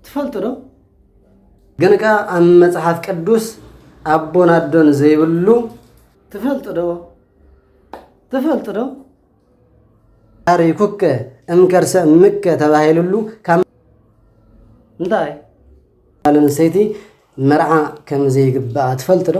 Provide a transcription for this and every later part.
ትፈልጡ ዶ? ግን ከ ኣብ መጽሓፍ ቅዱስ ኣቦን ኣዶን ዘይብሉ ትፈልጡ ዶ? ትፈልጡ ዶ? ታሪኩከ እምከርሰ እምከ ተባሂሉሉ ካብ እንታይ ጓል ኣንስተይቲ መርዓ ከም ዘይግባኣ ትፈልጡ ዶ?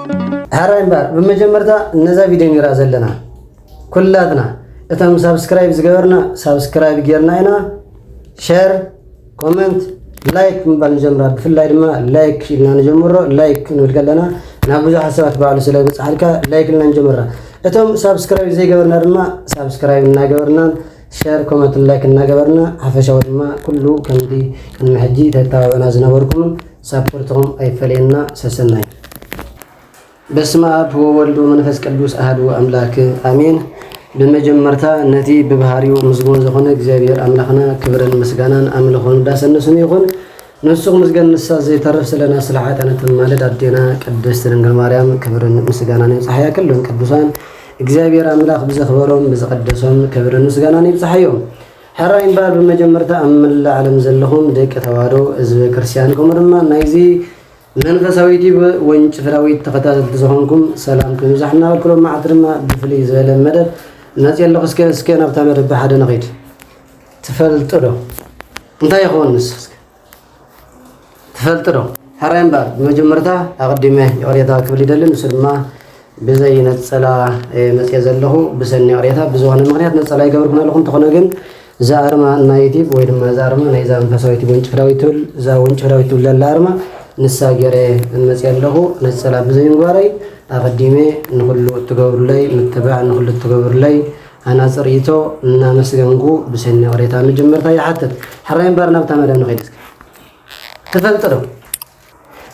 ሀራይ እምበር ብመጀመርታ ነዛ ቪድዮ ንራ ዘለና ኩላትና እቶም ሳብስክራይብ ዝገበርና ሳብስክራይብ ጌርና ኢና ሸር ኮመንት ላይክ ምባል ንጀምራ ብፍላይ ድማ ላይክ ኢልና ንጀምሮ ላይክ ንብል ከለና ናብ ብዙሓት ሰባት ባዕሉ ስለ ብፅሓልካ ላይክ ኢልና ንጀምራ እቶም ሳብስክራይብ ዘይገበርና ድማ ሳብስክራይብ እናገበርናን ሸር ኮመንትን ላይክን እናገበርና ሓፈሻዊ ድማ ኩሉ ከምቲ ቅድሚ ሕጂ ተተባብዑና ዝነበርኩምን ሳፖርትኹም ኣይፈለየና ሰሰናዩ። በስመ ኣብ ወወልድ ወመንፈስ ቅዱስ ኣህዱ ኣምላክ ኣሜን። ብመጀመርታ ነቲ ብባህሪኡ ምስጉን ዝኾነ እግዚኣብሔር ኣምላኽና ክብርን ምስጋናን ኣምልኾን ዳሰንሱን ይኹን። ንሱ ክምስገን ንሳ ዘይተርፍ ስለና ስለ ሓጥኣን እተማልድ ኣዴና ቅድስት ድንግል ማርያም ክብርን ምስጋናን ይብጻሓያ ክሎም ቅዱሳን እግዚኣብሔር ኣምላኽ ብዘኽበሮም ብዝቐደሶም ክብርን ምስጋናን ይብጻሓዮም ሕራይ እምበር ብመጀመርታ ኣብ መላእ ዓለም ዘለኹም ደቂ ተዋህዶ ህዝበ ክርስቲያን ከምኡ ድማ ናይዚ መንፈሳዊ ዩቲብ ወንጭፍራዊት ተኸታተልቲ ዝኾንኩም ሰላም ክብዛሕ እናበልክሎም መዓልቲ ድማ ብፍልይ ዝበለ መደብ መጽ ኣለኹ እስከ እስከ ናብታ መደብ ብሓደ ንኺድ ትፈልጥ ዶ እንታይ ይኸውን ንስኽ ትፈልጥ ዶ? ሕራይ እምበር ብመጀመርታ ኣቐዲመ ይቕሬታ ክብል ይደሊ ንሱ ድማ ብዘይ ነፀላ መፅየ ዘለኹ ብሰኒ ይቕሬታ ብዝኾነ ምክንያት ነፀላ ይገብርኩን ኣለኹ እንተኾነ ግን እዛ ኣርማ ናይ ዩቲብ ወይ ድማ እዛ ኣርማ ናይዛ መንፈሳዊ ዩቲብ ወንጭፍ ዳዊት ትብል እዛ ወንጭፍ ዳዊት ትብል ዘላ ኣርማ ንሳ ገይረ መፅየ ኣለኹ ነፀላ ብዘይምግባረይ ኣቐዲመ ንኹሉ እትገብሩለይ ምትብባዕ ንኹሉ እትገብሩለይ ሃናጺ ርኢቶ እናመስገንኩ ብሰኒ ይቕሬታ መጀመርታ ይሓትት። ሕራይ እምበኣር ናብታ መደብ ንኸይድ እስከ። ትፈልጢ ዶ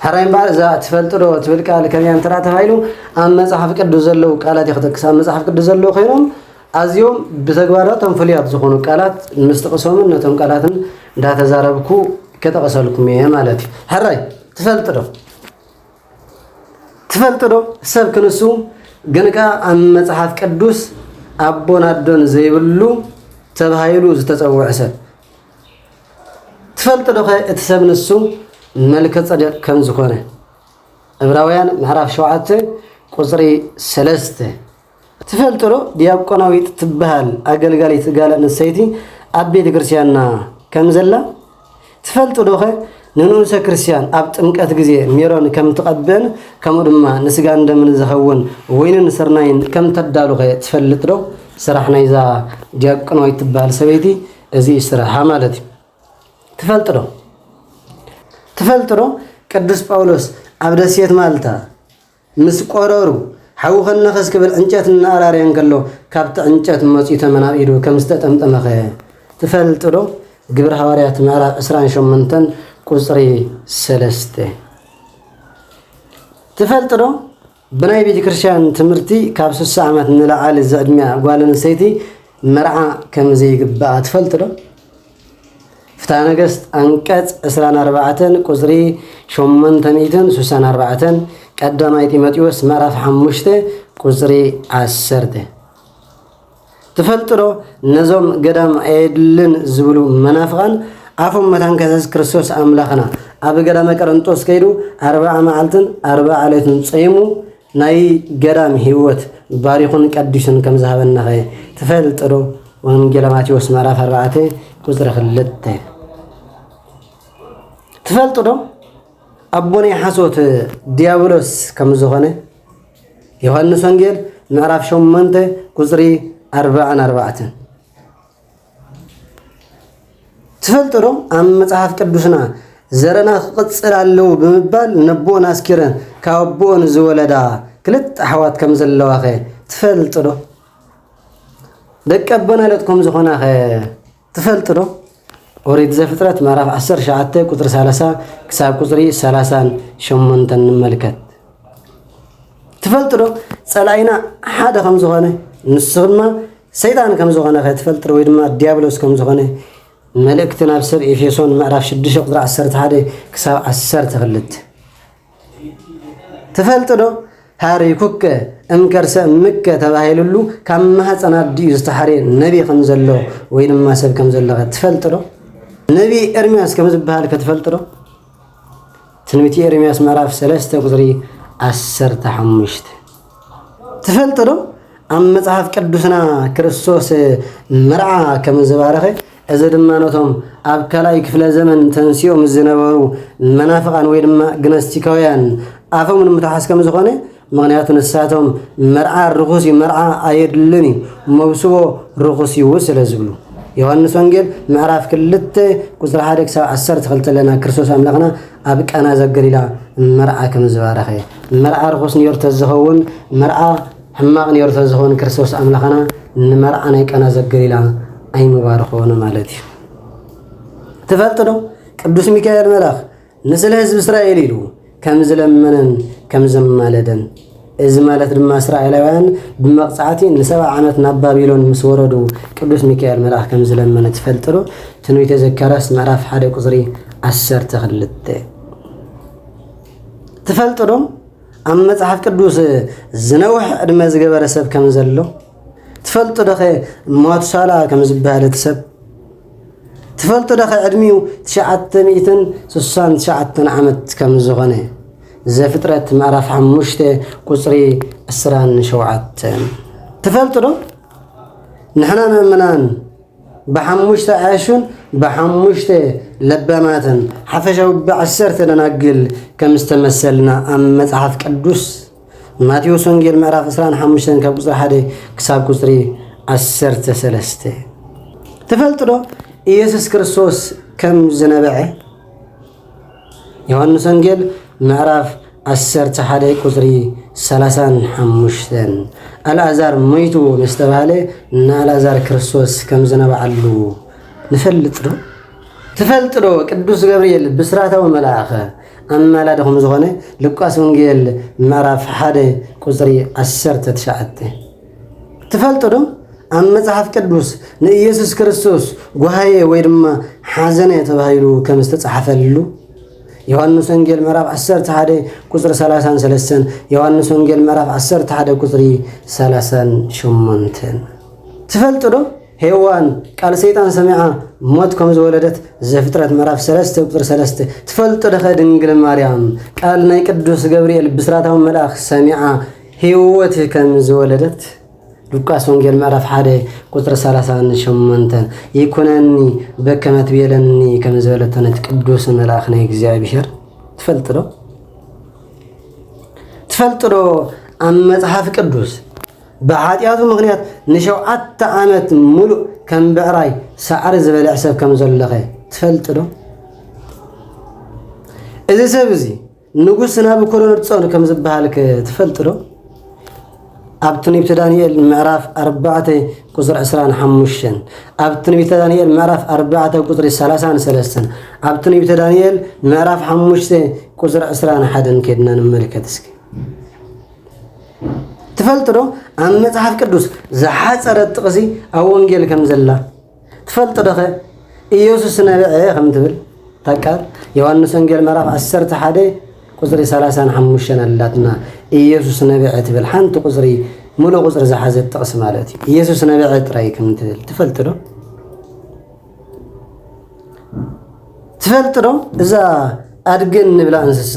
ሕራይ እምበኣር እዛ ትፈልጢ ዶ ትብል ቃል ከመያ እንተ ተባሂሉ ኣብ መጽሓፍ ቅዱስ ዘለዉ ቃላት እየ ክጠቅስ ኣብ መጽሓፍ ቅዱስ ዘለዉ ኮይኖም ኣዝዮም ብተግባራቶም ፍሉያት ዝኾኑ ቃላት ምስ ጥቕሶምን ነቶም ቃላትን እንዳተዛረብኩ ከጠቕሰልኩም እየ ማለት እዩ። ሕራይ ትፈልጢ ዶ ትፈልጥ ዶ ሰብ ክንሱ ግን ከኣ ኣብ መጽሓፍ ቅዱስ ኣቦን ኣዶን ዘይብሉ ተባሂሉ ዝተጸውዐ ሰብ ትፈልጥ ዶኸ እቲ ሰብ ንሱ መልከ ጸደቅ ከም ዝኾነ ዕብራውያን ምዕራፍ ሸውዓተ ቁጽሪ ሰለስተ ትፈልጥዶ ዲያቆናዊት ትበሃል ኣገልጋሊት ጋል ኣንስተይቲ ኣብ ቤተ ክርስቲያንና ከም ዘላ? ትፈልጥዶኸ ንንኡሰ ክርስቲያን ኣብ ጥምቀት ግዜ ሜሮን ከም ትቐብእን ከምኡ ድማ ንስጋን ደምን ዝኸውን ወይንን ስርናይን ከም ተዳሉኸ ትፈልጥዶ? ስራሕ ናይዛ ዲያቆናዊት ትበሃል ሰበይቲ እዚ እዩ ስራሓ ማለት እዩ። ትፈልጥዶ ትፈልጥዶ ቅዱስ ጳውሎስ ኣብ ደሴት ማልታ ምስ ቆረሩ፣ ሓዊ ከነኸስ ክብል ዕንጨት እናኣራረየ እንከሎ ካብቲ ዕንጨት መጽዩ ተመን ኣብ ኢዱ ከም ዝተጠምጠመኸ ትፈልጥዶ? ግብሪ ሃዋርያት ምዕራፍ ዕስራን ሸሞንተን ቁጽሪ ሰለስተ። ትፈልጥዶ? ብናይ ቤተክርስትያን ትምህርቲ ካብ ስሳ ዓመት ንላዕሊ ዝዕድሚኣ ጓል ኣንስተይቲ መርዓ ከም ዘይግባኣ ትፈልጥ ዶ? ፍትሃ ነገስት ኣንቀፅ ዕስራን ኣርባዕተን ቁፅሪ ሸሞንተ ሚእትን ስሳን ኣርባዕተን ቀዳማይ ጢሞቴዎስ ምዕራፍ ሓሙሽተ ቁፅሪ ዓሰርተ ትፈልጥ ዶ? ነዞም ገዳም ኣየድልን ዝብሉ መናፍቓን ኣፎም መታን ከሰስ ክርስቶስ ኣምላኽና ኣብ ገዳመ ቀረንጦስ ከይዱ ኣርባዓ መዓልትን ኣርባዓ ዕለትን ፀይሙ ናይ ገዳም ህይወት ባሪኹን ቀዲሱን ከም ዝሃበናኸ ትፈልጥዶ? ወንጌለ ማቴዎስ ምዕራፍ ኣርባዕተ ቁፅሪ ክልተ ትፈልጥዶ? ኣቦ ናይ ሓሶት ዲያብሎስ ከም ዝኾነ ዮሐንስ ወንጌል ምዕራፍ ሸሞንተ ቁፅሪ ኣርባዕን ኣርባዕትን ትፈልጡ ዶ ኣብ መጽሓፍ ቅዱስና ዘረና ክቕጽል ኣለዎ ብምባል ነቦን ኣስኪረን ካብ ኣቦኦን ዝወለዳ ክልተ ኣሕዋት ከም ዘለዋኸ ትፈልጡ ዶ ደቂ ኣቦና ለት ከም ዝኾናኸ ትፈልጡ ዶ ኦሪት ዘፍጥረት ምዕራፍ 19 ቁፅሪ 30 ክሳብ ቁፅሪ 38 ንመልከት ትፈልጡ ዶ ፀላኢና ሓደ ከም ዝኾነ ንሱ ድማ ሰይጣን ከም ዝዀነ ኸይትፈልጥር ወይ ድማ ድያብሎስ ከም ዝዀነ መልእክቲ ናብ ሰብ ኤፌሶን ምዕራፍ 6 ቁፅሪ 11 ክሳብ 12 ትፈልጥ ዶ? ሃሪኩከ እምከርሰ እምከ ተባሂሉሉ ካብ ማህፀን ኣዲኡ ዝተሓርየ ነቢ ከም ዘሎ ወይ ድማ ሰብ ከም ዘሎ ትፈልጥ ዶ? ነቢ ኤርምያስ ከም ዝበሃል ከትፈልጥ ዶ? ትንቢት ኤርምያስ ምዕራፍ ሰለስተ ቁፅሪ ዓሰርተ ሓሙሽተ ትፈልጥ ዶ ኣብ መፅሓፍ ቅዱስና ክርስቶስ መርዓ ከም ዝባረኸ እዚ ድማ ነቶም ኣብ ካልኣይ ክፍለ ዘመን ተንሲኦም ዝነበሩ መናፍቓን ወይ ድማ ግነስቲካውያን ኣፎም ንምትሓስ ከም ዝኾነ ምኽንያቱ ንሳቶም መርዓ ርኹስ እዩ፣ መርዓ ኣየድልን እዩ፣ መውስቦ ርኹስ እዩ ስለ ዝብሉ። ዮሃንስ ወንጌል ምዕራፍ ክልተ ቁፅሪ ሓደ ክሳብ ዓሰርተ ክልተ ኣለና ክርስቶስ ኣምላኽና ኣብ ቃና ዘገሊላ መርዓ ከም ዝባረኸ መርዓ ርኹስ ነይሩ ተዝኸውን መርዓ ሕማቕ ነይሩ ተዝኸውን ክርስቶስ ኣምላኽና ንመርዓ ናይ ቃና ዘገሊላ ኣይምባረኾን ማለት እዩ ትፈልጥ ዶ ቅዱስ ሚካኤል መልኣኽ ንስለ ህዝቢ እስራኤል ኢሉ ከም ዝለመነን ከም ዘማለደን እዚ ማለት ድማ እስራኤላውያን ብመቕጻዕቲ ንሰብዓ ዓመት ናብ ባቢሎን ምስ ወረዱ ቅዱስ ሚካኤል መልኣኽ ከም ዝለመነ ትፈልጥሉ ትንቢተ ዘካርያስ ምዕራፍ ሓደ ቁፅሪ ዓሰርተ ክልተ ትፈልጡ ዶ ኣብ መፅሓፍ ቅዱስ ዝነውሕ ዕድመ ዝገበረ ሰብ ከም ዘሎ ትፈልጡ ዶኸ ማቱሳላ ከም ዝበሃል እቲ ሰብ ትፈልጡ ዶ ዕድሚኡ ትሽዓተ ሚእትን ስሳን ትሽዓተን ዓመት ከም ዝኾነ ዘፍጥረት ምዕራፍ ሓሙሽተ ቁፅሪ ዕስራን ሸውዓተን ትፈልጡ ዶ ንሕና ምእምናን ብሓሙሽተ ዓያሹን ብሓሙሽተ ለባማትን ሓፈሻዊ ብዓሰርተ ደናግል ከም ዝተመሰልና ኣብ መጽሓፍ ቅዱስ ማቴዎስ ወንጌል ምዕራፍ 25 ካብ ቁፅሪ 1 ክሳብ ቁፅሪ 13 ትፈልጡ ዶ ኢየሱስ ክርስቶስ ከም ዝነበዐ ዮሐንስ ወንጌል ምዕራፍ 11 ቁፅሪ 35 ኣልኣዛር መይቱ ምስ ተባሃለ ንኣልኣዛር ክርስቶስ ከም ዝነበዓሉ ንፈልጥ ዶ ትፈልጥ ዶ ቅዱስ ገብርኤል ብስራታዊ መልኣኸ ኣማላዲ ከም ዝኾነ ሉቃስ ወንጌል ምዕራፍ ሓደ ቁጽሪ ዓሰርተ ትሽዓተ ትፈልጡ ዶ? ኣብ መጽሓፍ ቅዱስ ንኢየሱስ ክርስቶስ ጓሃየ ወይ ድማ ሓዘነ ተባሂሉ ከም ዝተጻሕፈልሉ ዮሐንስ ወንጌል ምዕራፍ 11 ቁጽሪ 33 ዮሐንስ ወንጌል ምዕራፍ 11 ቁጽሪ 38 ትፈልጡ ዶ ሄዋን ቃል ሰይጣን ሰሚዓ ሞት ከም ዝወለደት ዘፍጥረት ምዕራፍ ሰለስተ ቁፅሪ ሰለስተ ትፈልጦ ደኸ ድንግል ማርያም ቃል ናይ ቅዱስ ገብርኤል ብስራታዊ መልኣኽ ሰሚዓ ህይወት ከም ዝወለደት ሉቃስ ወንጌል ምዕራፍ ሓደ ቁፅሪ ሰላሳን ሸሞንተን ይኩነኒ በከመ ትቤለኒ ከም ዝበለቶ ነቲ ቅዱስ መልኣኽ ናይ እግዚኣብሄር ትፈልጥ ዶ ትፈልጥ ዶ ኣብ መፅሓፍ ቅዱስ ብሓጢኣቱ ምኽንያት ንሸውዓተ ዓመት ምሉእ ከም ብዕራይ ሳዕሪ ዝበልዕ ሰብ ከም ዘሎኸ ትፈልጥ ዶ? እዚ ሰብ እዚ ንጉስ ናቡኮዶነጾር ከም ዝበሃልከ ትፈልጥ ዶ? ኣብ ትንቢተ ዳንኤል ምዕራፍ ኣርባዕተ ቁፅሪ ዕስራን ሓሙሽተን ኣብ ትንቢተ ዳንኤል ምዕራፍ ኣርባዕተ ቁፅሪ ሰላሳን ሰለስተን ኣብ ትንቢተ ዳንኤል ምዕራፍ ሓሙሽተ ቁፅሪ ዕስራን ሓደን ከድና ንመልከት እስኪ ትፈልጥ ዶ ኣብ መጽሓፍ ቅዱስ ዝሓጸረት ጥቕሲ ኣብ ወንጌል ከም ዘላ ትፈልጥ ዶኸ ኢየሱስ ነብዐ ከም ትብል ታቃል ዮሐንስ ወንጌል ምዕራፍ 11 ቁጽሪ 35 ኣላትና ኢየሱስ ነብዐ ትብል ሓንቲ ቁጽሪ ሙሉእ ቁጽሪ ዝሓዘት ጥቕሲ ማለት እዩ ኢየሱስ ነብዐ ጥራይ ከም ትብል ትፈልጥ ዶ ትፈልጥ ዶ እዛ ኣድጊ እንብላ እንስሳ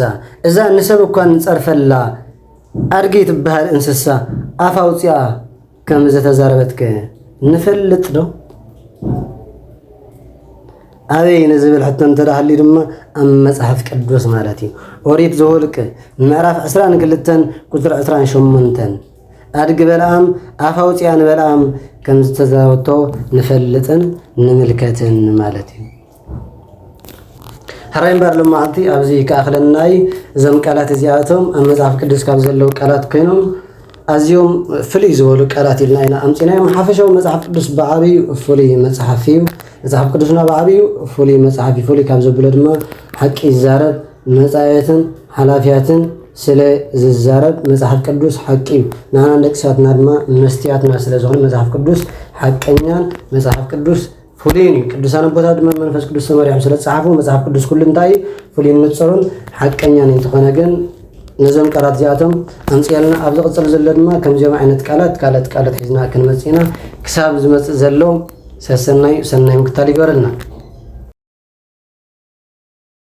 እዛ ንሰብ እኳ እንፀርፈላ ኣድጊ ትበሃል እንስሳ ኣፍ ኣውፅኣ ከም ዝተዛረበትከ ንፈልጥ ዶ? ኣበይ ንዝብል ሕቶ እንተዳሃልዩ ድማ ኣብ መፅሓፍ ቅዱስ ማለት እዩ ኦሪት ዘወልቅ ምዕራፍ 22 ቁፅሪ 28 ኣድጊ በለኣም ኣፍ ኣውፂኣ ንበለኣም ከም ዝተዛረበቶ ንፈልጥን ንምልከትን ማለት እዩ። ሕራይ እምበር ሎማዕንቲ ኣብዚ ክኣኽለናይ እዞም ቃላት እዚኣቶም ኣብ መጽሓፍ ቅዱስ ካብ ዘለዉ ቃላት ኮይኖም ኣዝዮም ፍልይ ዝበሉ ቃላት ኢልና ኢና ኣምፂናዮም ሓፈሻዊ መፅሓፍ ቅዱስ ብዓብዩ ፍሉይ መፅሓፍ እዩ መፅሓፍ ቅዱስና ብዓብዩ ፍሉይ መፅሓፍ እዩ ፍሉይ ካብ ዘብሎ ድማ ሓቂ ይዛረብ መጻዮትን ሓላፊያትን ስለ ዝዛረብ መጽሓፍ ቅዱስ ሓቂ እዩ ንኣና ንደቂ ሰባትና ድማ መስትያትና ስለ ዝኾነ መጽሓፍ ቅዱስ ሓቀኛን መጽሓፍ ቅዱስ ፍሉይን እዩ ቅዱሳን ኣቦታት ድማ መንፈስ ቅዱስ ተመሪሖም ስለ ዝጸሓፉ መጽሓፍ ቅዱስ ኩሉ እንታይ እዩ ፍሉይን ንጽሩን ሓቀኛን እንተኾነ ግን ነዞም ቃላት እዚኣቶም ኣምፅኣልና ኣብ ዝቕፅል ዘሎ ድማ ከምዚኦም ዓይነት ቃላት ካልኦት ቃላት ሒዝና ክንመፅእ ኢና ክሳብ ዝመፅእ ዘሎ ሰሰናይ ሰናይ ምክታል ይገበረልና